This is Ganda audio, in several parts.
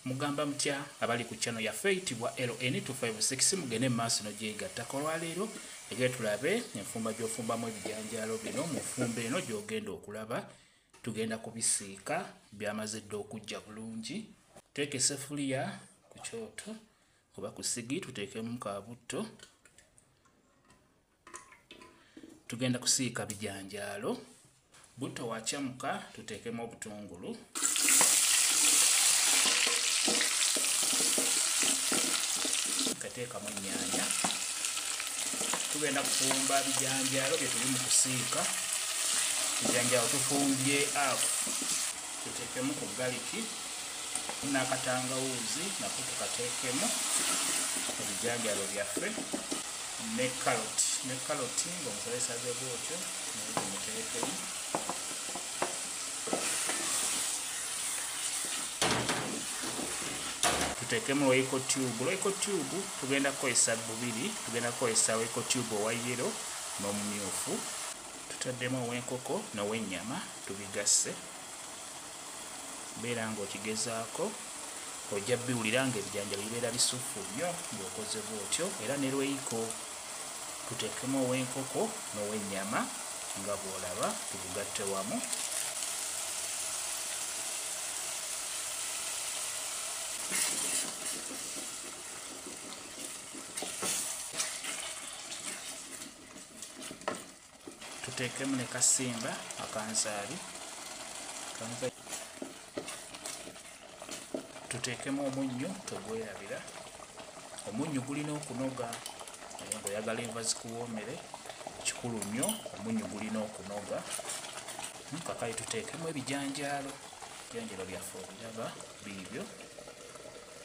Mugamba mutya abali ku channel yaffe eyitibwa LN256 mugende mu maaso nogyegattako olwaleero ege tulabe enfumba gy'ofumbamu ebijanjaalo bino mu nfumba eno gy'ogenda okulaba tugenda kubisiika byamaze dda okujja bulungi teeka esefuliya ku kyoto oba ku sigi tuteekemu ka butto tugenda kusiika bijanjaalo butto wakyamuka tuteekemu obutungulu kateekamu ennyanya tugenda kufumba bijanjaalo byetuli mu kusiika bijanjaalo tufumbye afu tuteekemu ku galiki n'akatangawuuzi nako tukateekemu ebijanjaalo byaffe ne carrot ne carrot ng'omukolesaze bwotyo muterekemu tuteekemu royco tube royco tube tugenda kukozesa bubiri tugenda kukozesa royco tube owa yero n'omumyufu tutaddemu ow'enkoko n'ow'ennyama tubigasse beera nga okigezaako ojja biwulira nga ebijanjalo bibeera bisuffu nnyo ng'okoze bwotyo era ne lweiko tuteekemu ow'enkoko n'ow'ennyama nga bw'olaba tugugatte wamu tuteekemu ne kasimba akanzaali tuteekemu omunnyo togwerabira omunnyo gulina okunoga ngaoyagala enva zikuwoomere kikulu nnyo omunnyo gulina okunoga kakali tuteekemu ebijanjaalo ebijanjalo byaffe obiraba biibyo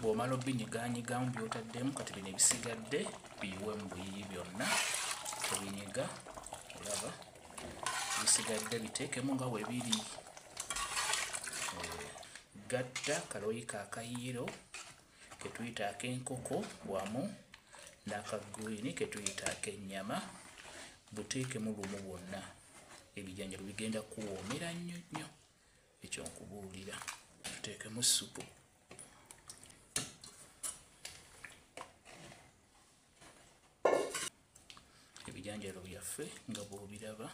bw'omala obinyiganyigamu by'otaddemu kati bino ebisigadde biyiwe mu buyiyi byonna obinyiga olaba bisigadde biteekemu nga we biri eh, gatta kaloyi ka kayiro ke tuyita ak'enkoko wamu n'akagwini ke tuyita ak'ennyama buteekemu lumu bwonna ebijanjalo bigenda kuwoomera nnyo nnyo ekyo nkubuulira tuteekemu ssupu ebijanjalo byaffe nga bwobiraba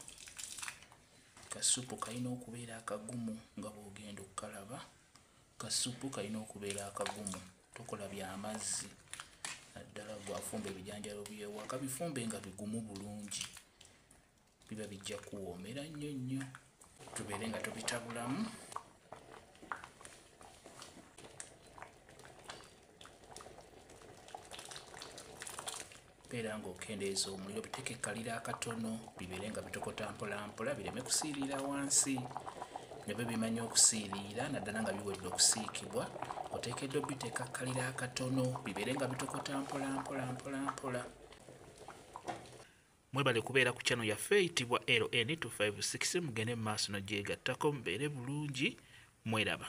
kasupu kalina okubeera akagumu nga bwogenda okukalaba kasupu kalina okubeera akagumu tokola byamazzi naddala gwafumba ebijanjalo byewaka bifumbe nga bigumu bulungi biba bijja kuwoomera nnyo nnyo tubeere nga tubitabulamu beera ng'okendeeza omuliro biteeke kalira akatono bibeere nga bitokota mpolampola bireme kusiiriira wansi ne bwe bimanya okusiiriira naddala nga biwedde okusiikibwa oteekeddwa obiteeka kalira akatono bibeere nga bitokota mpolampolampolampola Mwebale kubeera ku channel yaffe eyitibwa LN256 mugende mu maaso no gyegattako mubeere bulungi mweraba.